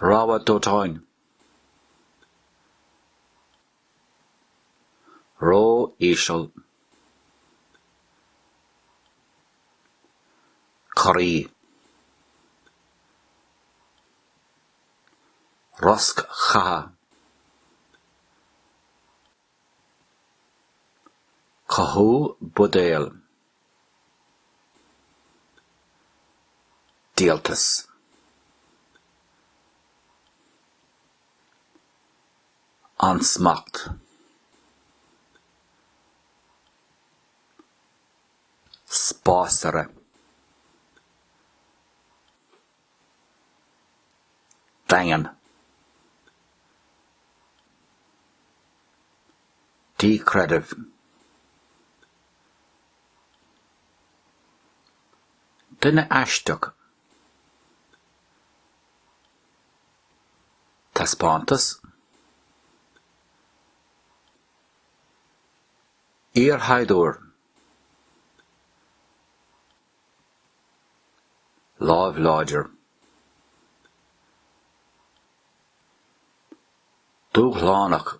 Rabhadh dóiteáin, ró-íseal. Corraí. Rosc chatha. Cothú buidéil. Díoltas. Ansmacht. Spásaire. Daingean. Díchreideamh. Duine aisteach. Taispeántas. Iarshaighdiúir. Láimh láidir. Dúshlánach.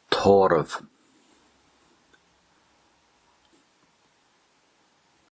Tórramh.